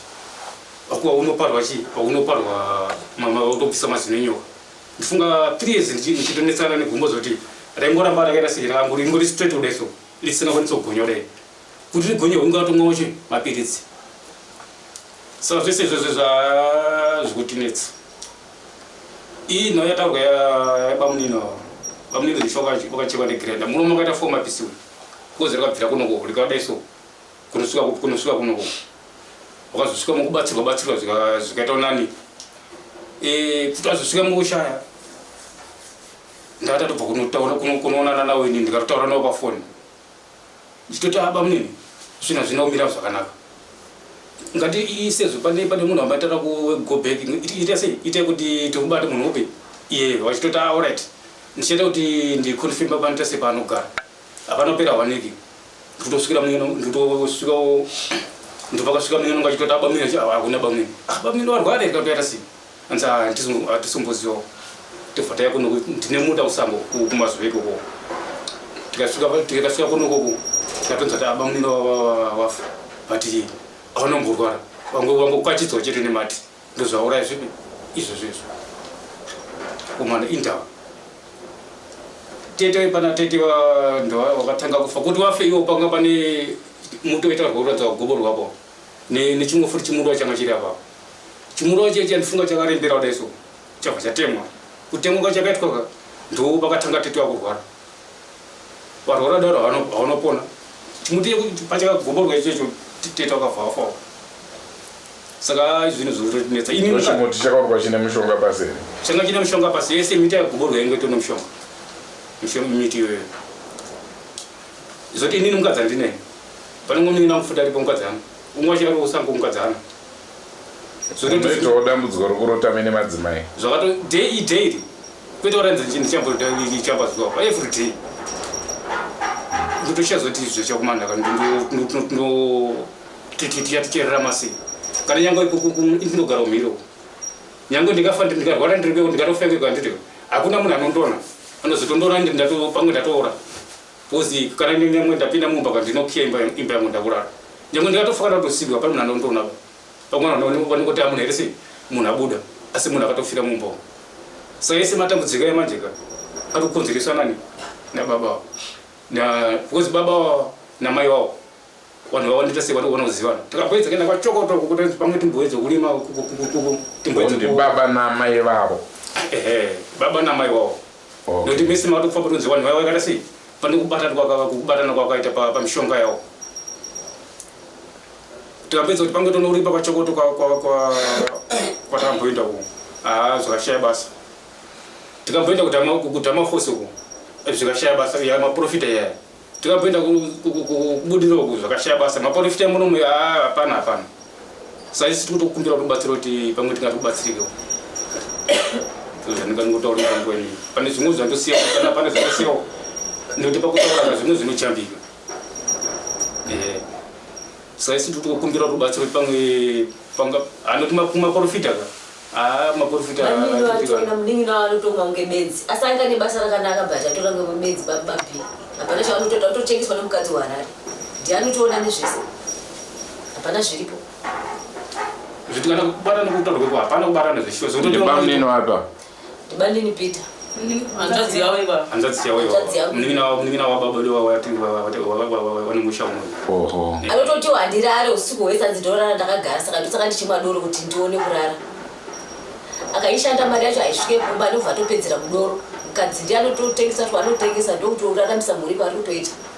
akuwa unoparwa chii aunoparwa mama utobvisa mazino enyoka ndifunga three years ndichi- ndichitonetsana negumbo zoti raingoramba rakaita sei rangori ingori straight kudaiso risingakwanisa kugonya kudai kuti rigonye hunge watomwawo chii mapiritsi saka zvese izvozvo zvazvikutinetsa iyi nhau yataurwa yabamunini avo bamunini zvisho vakachekwa negrenda muno makaita fo mapisi uyu kozi rakabvira kunoko rikadai so kunosvika kupi kunosvika kunoko wakazosvika mukubatsirwa batsirwa zvikaita unani eh, kuti azosvika mukushaya ndatatobva kunotaura kunoonana nawo ini ndikatotaura nawo pafoni ndichitoti aba mune zvinhu hazvina kumira zvakanaka ngati isezvo pane pane munhu amatara kugo back ita sei ita kuti tikubate munhu upi iye vachitoti aorit ndichaita kuti ndiconfirma panoita sepaanogara apanopera waniki ndikutosvikira muno ndikutosvika ndipakasvika muno ngachitoti abamwino hakuna bamwino abamwino ah, varware katoita sei Hanzi hatisomboziva tobva taya kuno ndine muda kusango kumazuva ikoko tikasvika kuno koko tikatonza kuti abamunini wafa but aona mborwara vangokwachidzwa chete nemati ndozvauraya zvipi izvo zvezvo umana indawa tete pana tete ndo wakatanga kufa kuti wafe iwo panga pane mutoita rweuradza gobo rwapo ne nechimwe futi chimurwa changa chiri apapo chimurwa chee chandifunga chakarembera kudai so chabva chatemwa kutemwa ka chakaitwa ka ndo pakatanga tete wakurwara varwara daro havanopona chimuti pachakagomborwa ichocho tete wakabva afawo saka izvinhu zvotinetsa inichimuti chakaurwa chine mushonga pasi here changa chine mushonga pasi yese miti yagomborwa yange tone mushonga miti iyoyo Zoti inini mukadzi andine. Panongonin'ina kufuta aripo mukadzi ano. Umwe wacho ari usango mukadzi ano. Zoti Unoitawo dambudziko rokurota mene madzimai. zvakato day daily kwete waranza chinhu ndichamba zuva pa every day ndotochazoti izvo chakumana kana ndotitichaticherera masi kana nyangwe ikuku ndinogara umhiro Nyange ndikafa ndikarwara ndiripeko ndikatofengeka handiti hakuna munhu anondona anozotondoona ndi ndato pamwe ndatoora bcozi kana nyamwe ndapinda mumba ka ndinokiya imba imba yangu ndakurara nyange ndikatofa kana kutosigwa pane munhu anondona pamwe vanongoti amuna here sei munhu abuda asi munhu akatofira mumba umu saka ese matambudziko emanje ka ari kukonzereswa nani nababa na bcozi baba namai wavo vanhu vaone tese vanhu vanozivana takaboedza kuenda kwachokoto uko kuti pamwe timboedze kulima timboedze baba namai vavo ehe baba namai vavo nokuti mese matofa patonzi vanhu vaiva vakaita sei pane kubatana kubatana kwakaita pamishonga yavo tikapedza kuti pamwe tonouripa kwachokoto kwatamboenda uko haa zvakashaya basa tikamboenda kutama fosi uko zvikashaya basa yamaprofita yaya Tikapinda kubudira uku zvakashaya basa maporifita munomu ah, hapana hapana. Saisi tiri kutokumbira kuti ubatsiro kuti pamwe tingati kubatsirikewo. Zvanika ndingotaura pangu ini. Pane zvimwe zvandosiya kana pane zvandosiyawo. Nekuti pakutaura zvimwe zvinochambika. Eh. Saisi tiri kutokumbira kuti ubatsiro kuti pamwe panga anoti maporifita ka. Ah, maporofita Vanini vatona munin'ina wanotonga kunge benzi asi anga ane basa rakanaka but atora kunge benzi bababi hapana chaanotoda kutotengeswa nemukadzi weharare ndi anotoona nezvese hapana zviripo zvitikana kubatana kutaura kweko hapana kubatana zveshuwa Ndibamnini wapa Bandini Peter. Hanzvadzi yavo iva. Hanzvadzi yavo iva. Munin'ina wavo munin'ina wavo baba ndivo vanenge usha umwe. Oho. Anototi wandirare usiku hwese hanzi ndorara ndakagara saka ndosaka ndichimwa doro kuti ndione kurara. Akaishanda mari yacho haisvike kumba ndobva atopedzera kudoro. Mukadzi ndiye anototengesa kuti anotengesa ndokuti uraramisa mhuri pari kutoita.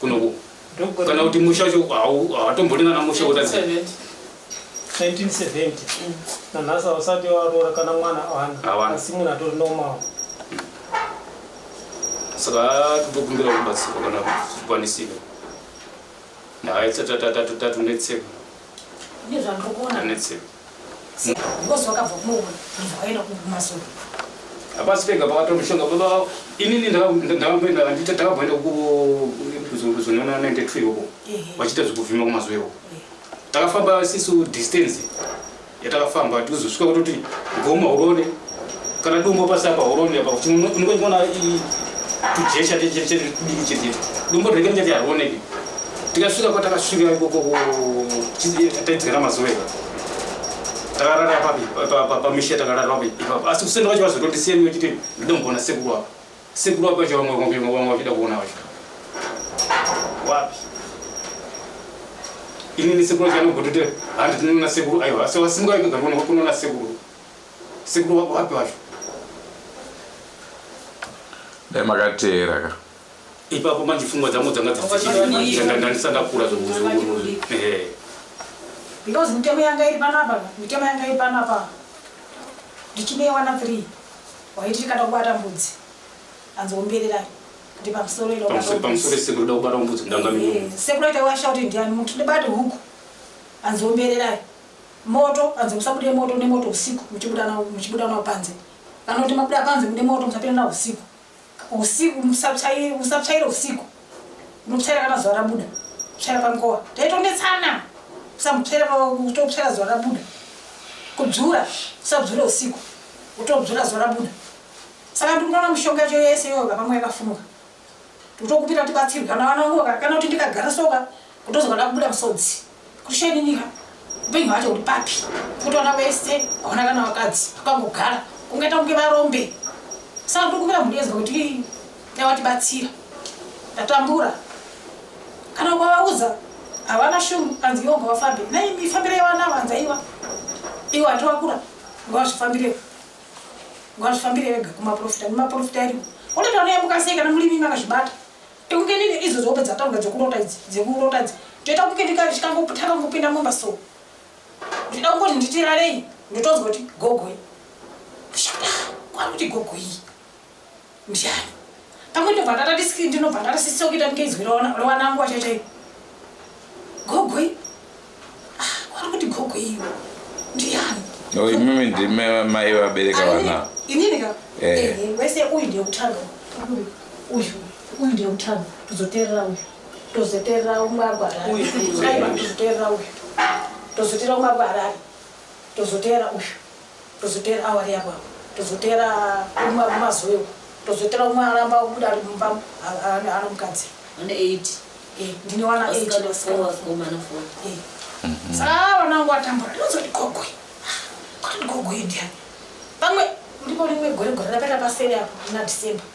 kunoku kana kuti musha wacho hawatombori nana musha kutadza 1970 nanhasi hausati waroora kana mwana awana asi munhu atori normal saka totokumbira kubatsirwa kana kukwanisika nhayi tsatatatatatatonetsikanetsika hapasi pega pakatora mushonga baba inini ndakamboenda ndakamboenda kuzonona 92 ikoko vachiita zvekuvhima kumazuva ikoko takafamba sisu distance yatakafamba tikuzosvika kutoti goma urone kana dumbo pasi apa urone apa kuti unokoona tujesha chete chete dumbo rege richati harioneki tikasvika kwatakasvika ikoko taidzikana mazuva eka takarara papi pamisha takarara papi ipapo asi kusenda kwacho vazotondisiya miwe chiti ndida kumbona sekuru apa sekuru apa vacho vamwe vamwe vachida kuona vacho wapi inini sekuru vacho vanogotote handi tinoona sekuru aiwa asi vasimuka ikagara kuno kunoona sekuru sekuru wapi wacho dai makateera ka ipapo manje pfungwa dzangu dzanga dzandandisandakura because mitemo yanga iri panapa mitemo yanga iri panapa ndichinewana three waiti tikada kubata mbudzi anzombererai sekuraitawashauti eh, ndiani muti ndibati huku anzombererai moto anzi musabude moto nemoto usiku muchibuda nawo panze kana kuti mabuda panze mude moto musapinda nawo usiku Usiku musapsaire musapsaire usiku. Unopsaira kana zuva rabuda. Psaira pankowa. Taitonetsana. Usamupsaira kutopsaira zuva rabuda. Kubzura usabzure usiku. Utobzura zuva rabuda. Saka ndikunoona mushonga yacho yese iyoyo vapamwe yakafunuka. Totokupira tibatsirwe kana vana vangu kana kuti ndikagara soka kutozoda kubuda musodzi. kushaninira upenyu hwacho uri papi kutoona wese haona kana vakadzi vakangogara kungaita kunge varombe saka ndokuvira mhuri yezwa kuti yawatibatsira ndatambura kana ukavaudza havana shungu anzi iwo ngavafambe nei mifambiro yavanavo anzi aiwa iwo hati vakura ngavazvifambire ngavazvifambire vega kumaprofita nemaprofita ariwo unotoona yamukasei kana murimi makazvibata Tikukenini idzo dzobe dzataura dzekurota idzi dzekurota idzi toita kukenika ndichikangotanga kupinda mumba so ndida kungoti nditirarei ndotonzwa kuti gogoi kwakuti gogoi ndiani pamwe ndobva ndatatisiki ndinobva ndatasisira kuita ndikeinzwi rewanangu wachaitei gogoi Wari kuti gogo iyo ndiyani? No, imimi ndime mai vabereka vana. Inini ka? Eh. Eh, wese uyu ndiye kutanga. Uyu. Uyu. Uyu ndiye kutanga. Tozoterera uyu. Tozoterera umwe abva Harare. Uyu. Aiwa, Tozoterera uyu. Tozoterera umwe abva Harare. Tozoterera uyu. tozoteera awari apo apo tozoteera umwe mumazuva iwo tozoteera umwe aramba kubuda ari mumba ari mukadzi ane eight eh, ndine wana eight eh. mhm. saka vana wangu atambura ndinozoti gogwe kuti gogwe ndiani pamwe ndipo rimwe gore gore rapera pasere apo na december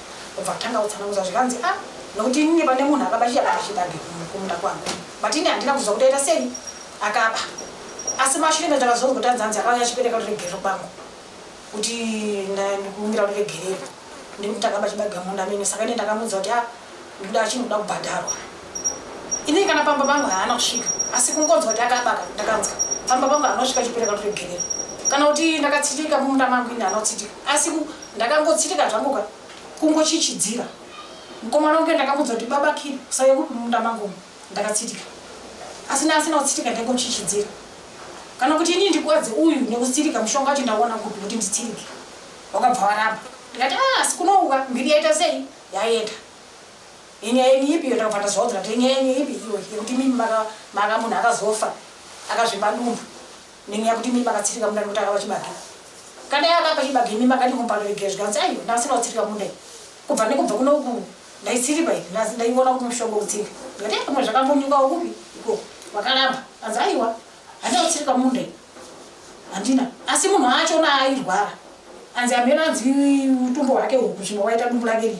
Obva atanga kutsanangudza zvikanzi ah nokuti ini pane munhu akaba chiyabata chibage kumunda kwangu but ini handina kuziva kuti aita sei akaba asi mashure ndo ndakazonzwa kuti anzi anzi akauya achipereka kuti regerero kwangu kuti ndikumbira kuti regerero ndiri kuti akaba chibage munda mene saka ine ndakamuudza kuti ah ndikuda achinoda kubhadharwa Ini kana pamba pangu haana kusvika asi kungonzwa kuti akabaka ndakanzwa pamba pangu anosvika chipereka toregerera kana kuti ndakatsitika mumunda mangu ini anotsitika asi ndakangotsitika zvangu ka kungochichidzira mukomana wangu ndakamuudza kuti baba kiri usave kupi mumunda mangu ndakatsitika asi naasina kutsitika ndangochichidzira kana kuti ini ndikwadze uyu nekutsitika mushonga wacho ndaona kupi kuti nditsirike wakabva waramba ndikati ah, asi kunouka mbiri yaita sei yaenda Inyaya yenyu ipi iyo takuvata zvawo dzikati inyaya yenyu ipi iyo yekuti imimi maka maka munhu akazofa akazvimba dumbu neni yakuti imimi makatsirika munda nekuti akapa chibage kana yeye akapa chibage imimi makadi kumpano regera zvikanzi aiyo ndakasina kutsirika munda iyi kubva nekubva kuno uku ndaitsiripa iyi ndaiona kuti mushongo utsirika ndikati eh, pamwe zvakambonyuka ukupi iko wakaramba anzi aiwa handina kutsirika munda iyi handina asi munhu acho naairwara anzi ameno anzi utumbo hwake uku zvimwe waita dumbu lake rii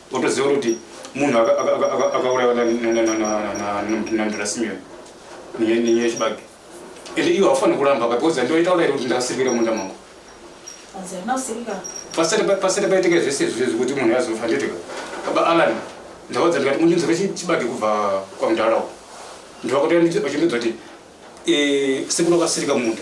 Wotoziva kuti munhu akaurayiwa nandira Simeon nenyaya yechibage. And iwe haufaniri kuramba ka because ndoita uraira kuti ndakasirikira munda mangu. Pasati paitika zvese izvi zvekuti munhu azofa ndoitika. Baba Alan ndaudza ndikati mundinzwira chibage kubva kwamudhara uko. Ndovakatoya vachindiudza kuti eh, sekuru akasirika munda.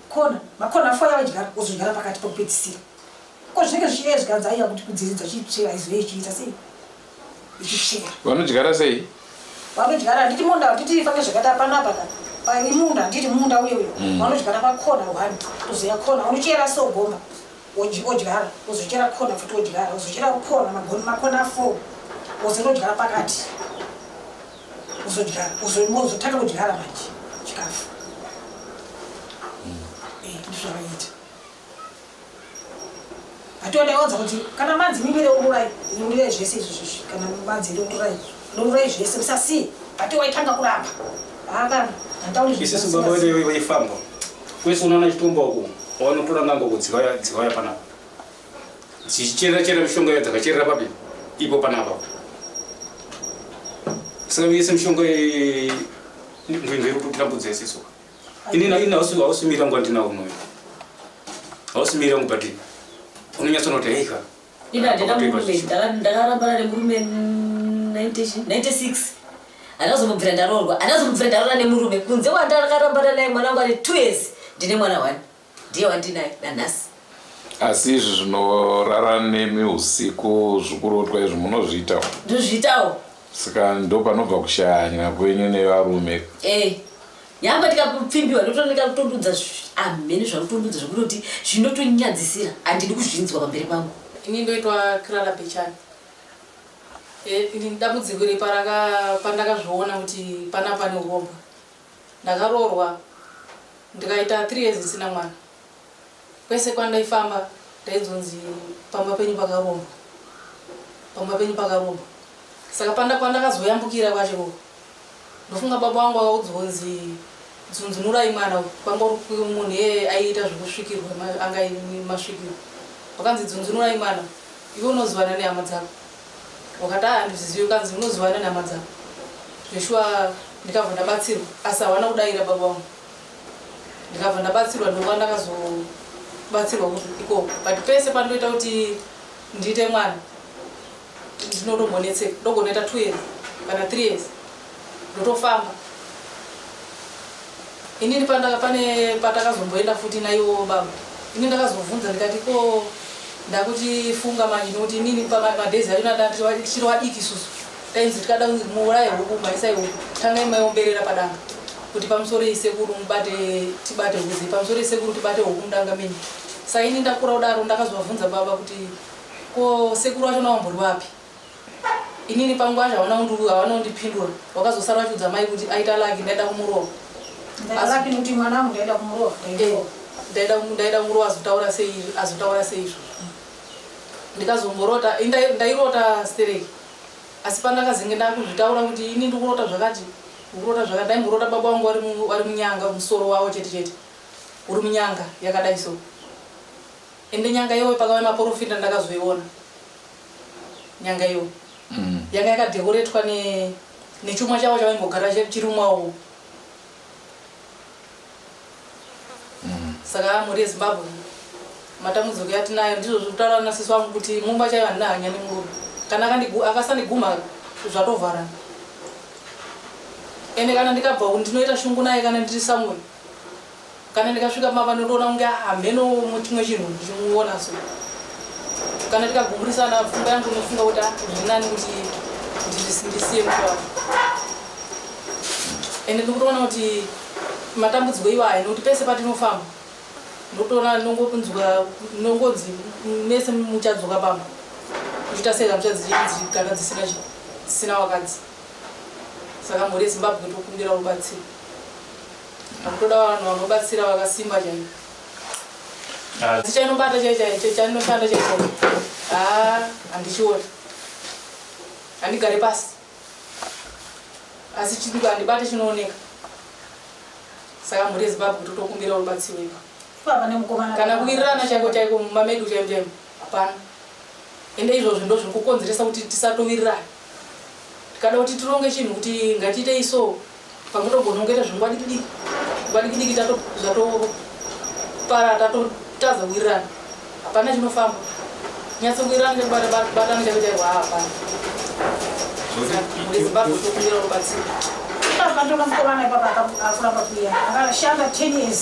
Kona makona foya wadyara wozodyara pakati pokupedzisira ko zvinenge zvichiedzwa hanzi aiya kuti kudziridza chitsvera izove ichiita sei ichitsvera vanodyara sei vanodyara handiti munda handiti ifange zvakati hapana apa ka pari munda handiti munda uye uyo Mm. vanodyara pakona one kuzoya kona unochera so gomba wodyi- wodyara wozochera kona futi wodyara wozochera kona magoni makona four wozonodyara pakati uzodyara uzotanga kudyara manje chikafu mm. eh, ndizvavaiita ationdaiwanza kuti kana manzi mimire ururai ururai zvese izvozvozvi kana manzi iri ururai ururai zvese musasiye ati waitanga kuramba haakana handauriisisu baba vaifamba kwese unoona chitumba uku wanotora ngango kudziwaya panapa Chichera chera mishonga iyo dzakacherera papi ipo panapa. Saka yese mishonga ndinzwe iri kutambudza yese so. Ini na ina usu usu mira ngwa ndina uno. Usu mira ngwa bati. Unonyatsa noti hey ka. Ina ndina murume ndakarambana nemurume 96 anazomubvira ndaroorwa anazomubvira ndaroora nemurume kunze kwandakarambana naye mwana wangu ane two years ndine mwana one Ndiye wandinaye nanhasi. Asi izvi zvinorara nemi usiku zvikurotwa izvi munozviitawo? Ndozviitawo. Saka ndopanobva kushanya kwenyu nevarume. Eh. Nyangwe ndikakupfimbiwa ndotoneka kutondudza amhene zvanotondudza zvekutoti zvinotonyadzisira handidi kuzvinzwa pamberi pangu. Ini ndoitwa Clara Bechani. Eh, ini dambudziko iri paraka pandakazviona kuti pana pane urombwa. Ndakaroorwa ndikaita three years ndisina mwana. Kwese kwandaifamba ndainzonzi pamba penyu pakarombwa. Pamba penyu pakarombwa. Saka panda pandakazoyambukira kwacho ikoko ndofunga baba wangu akaudzwa kunzi dzunzunurai mwana uyu kwanga uri munhu iye aiita zvekusvikirwa anga masvikirwa. Vakanzi dzunzunurai mwana iwe unozivana nehama dzako. wakati haa handizizivi ukanzi unoziva nani hama dzako zveshuwa ndikabva ndabatsirwa asi hawana kudaira baba wangu ndikabva ndabatsirwa ndokuva ndakazobatsirwa kuti ikoko but pese pandoita kuti ndiite mwana ndinotombonetseka ndogonoita two years kana three years ndotofamba inini pandaka pane patakazomboenda futi naiwo baba ini ndakazovhunza ndikati ko ndakuti funga manje nokuti inini pamadhezi acho ndatiri wadiki susu tainzi tikada kunzi muuraye huku maisai huku tangai maiomberera padanga kuti pamusoro isekuru mubate tibate huzi pamusoro isekuru tibate huku mudanga mini saini ndakura kudaro ndakazovavhunza baba kuti ko sekuru wacho nawambori wapi Inini pangu anja hawana undu hawana undipindura wakazosara achiudza mai kuti aita laki ndaida kumurova laki kuti mwana wangu ndaida kumurova eh, ndaida ndaida kumurova azotaura sei azotaura sei izvo ndikazongorota ndairota stereki asi pandakazenge ndakuzvitaura kuti ini ndikurota zvakati ndikurota zvakati ndaimborota baba wangu wari munyanga musoro wavo chete chete uri munyanga yakadai so ende nyanga iyoyo pakauya maporofita ndakazoiona nyanga iyo mm. yanga yakadekoretwa ne nechuma chavo chavaingogara chirumwawo mm. saka mhuri yezimbabwe matambudziko yatinayo ndizvo zvekutaura nasisi vangu kuti mumba chaiva ndina hanya nemurume kana akasandiguma zvatovharana ende kana ndikabva ndinoita shungu naye kana ndiri samwe Kana ndikasvika mava nondoona kunge hameno chimwe chinhu ndichimuona so kana tikagumburisana pfungwa yangu inofunga kuti ah, zvinani kuti ndisiye mtu wangu ende ndikutoona kuti matambudziko iwaya nekuti pese patinofamba ndotoona nongonzwa nongonzi mese muchadzoka pamba kuchiita sei kamuchadzigara dzisina dzisina wakadzi saka mhuri yezimbabwe tokumbira rubatsiro Akutoda vanhu vanobatsira vakasimba chaivo. Ah. Chichanobata chaicho chanoshanda chaicho. Ah, handichioni. Handigare pasi. Asi chidiko handibate chinooneka. Saka mhuri yeZimbabwe kuti tokumbira rubatsiro ipa. Baba nemukomana. Kana kuwirirana chaiko chaiko mumba medu chaimo chaimo. Hapana. Ende izvozvo ndozviri kukonzeresa kuti tisatowirirana. Tikada kuti tironge chinhu kuti ngatiitei so pamutogona kungoita zvingwadikidiki ngwadikidiki tatopara tatotadza kuwirirana hapana chinofamba nyatso kuwirirana nekubatana chakuitairwa hapana muzimbabwe tokumbira rubatsiro akatoka mukomana ipapa akuramba kuya akashanda 10 years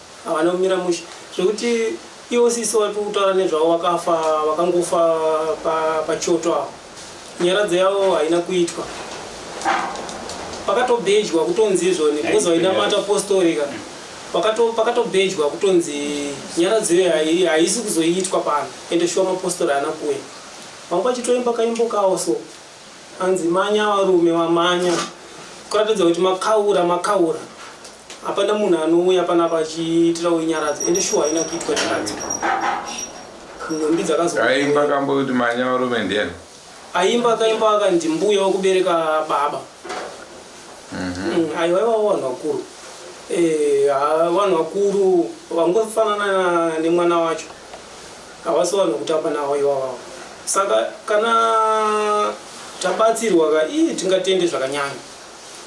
Havana kumira mushe zvekuti iwo sisi vari kutaura nezvavo vakafa vakangofa pachoto avo nyaradzo yavo haina kuitwa pakatobhejwa kutonzi izvoni because vainamata apostorika pakatobhejwa kutonzi nyaradzo iyo haisi kuzoitwa pano ende shuwa mapostori haana kuuya vanga vachitoimba kaimbo kawo so hanzi manya varume vamanya kuratidza kuti makaura makaura Hapana munhu anouya panapa achiitira uinyaradzo ende shuwa haina kuitwa nyaradzo. Nhumbi dzakazo. Aimba kambo kuti manya varume ndiani? Aimba akaimba aka ndimbuya wekubereka baba. Mhm. Mm, aiwa iwawo vanhu vakuru. Eh, vanhu vakuru vangofanana nemwana wacho. Havasi vanhu kutamba nawo iwawo. Saka kana tabatsirwa ka ii tingatende zvakanyanya.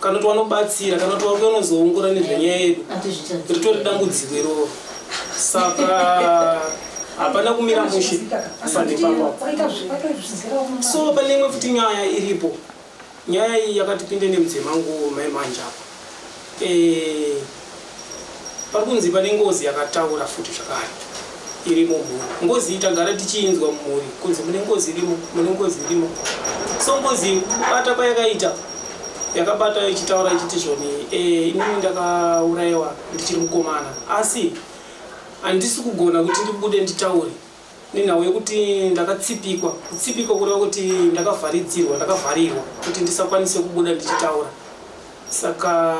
kana kuti wanobatsira kana kuti wauya unozoongora nezvenyaya yedu ritori dambudziko iroro saka hapana kumira mushe so pane imwe futi nyaya iripo nyaya iyi yakatipinde nemudzemangu mai manje apo eh, Parikunzi pane ngozi yakataura futi zvakare irimo mhuri. Ngozi iyi tagara tichiinzwa mhuri kunzi mune ngozi irimo, mune ngozi irimo. So ngozi kubata kwayakaita yakabata ichitaura ichiti zvoni eh, inini ndakaurayiwa ndichiri mukomana asi handisi kugona kuti ndibude nditaure Nenhau yekuti ndakatsipikwa, kutsipikwa kureva kuti ndakavharidzirwa, ndakavharirwa kuti ndisakwanise kubuda ndichitaura. Saka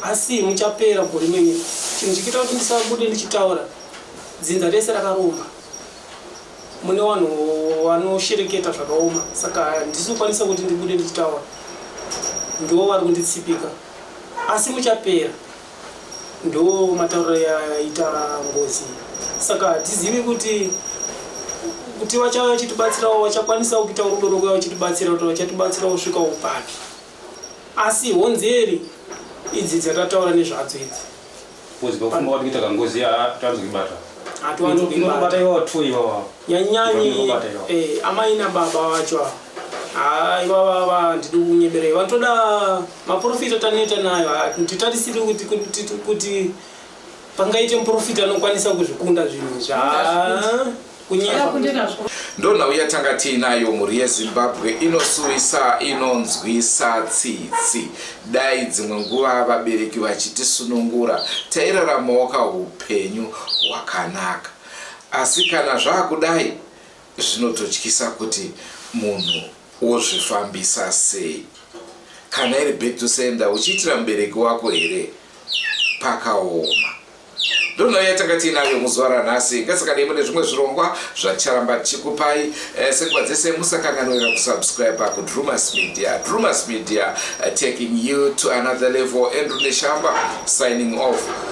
asi muchapera gore menyu chinhu chikiita kuti ndisabude ndichitaura dzinza rese rakaromba mune vanhu vanoshereketa zvakaoma saka ndisi kukwanisa kuti ndibude ndichitaura ndivo vari kunditsipika asi muchapera ndiwo matauriro yaita ngozi saka hatizivi kuti kuti vachauya vachitibatsirawo vachakwanisawo kuita rudo rokuya vachitibatsira kuti vachatibatsirawo svika upapi asi honzeri idzi dzatataura nezvadzo idzi uzivakufunga kuti kuita kangozi hatiwanzi kuibata hatiwanzi kuibata iwawa two iwawa nyanyanyi eh, amai nababa vacho haa ah, ivava vandidi kunyeberei vanotoda Maporofita atanoita nayo hatitarisiri kuti kuti kuti pangaite muporofita anokwanisa kuzvikunda zvinhu zva kunyepa. ndonhau yatanga tiinayo mhuri yezimbabwe inosuwisa inonzwisa tsitsi dai dzimwe nguva vabereki vachitisunungura tairaramawo kaupenyu hwakanaka asi kana zvaakudai zvinototyisa kuti munhu Wozvifambisa sei kana iri back to sender uchiitira mubereki wako here pakaoma. Ndonhau yatanga tiinayo muzuva ranhasi ngasikadei mune zvimwe zvirongwa zvaticharamba tichikupai eh, sekuva dzese musakanganwira kusubscribe kudrumas media drumas media eh, taking you to another level andrew neshamba signing off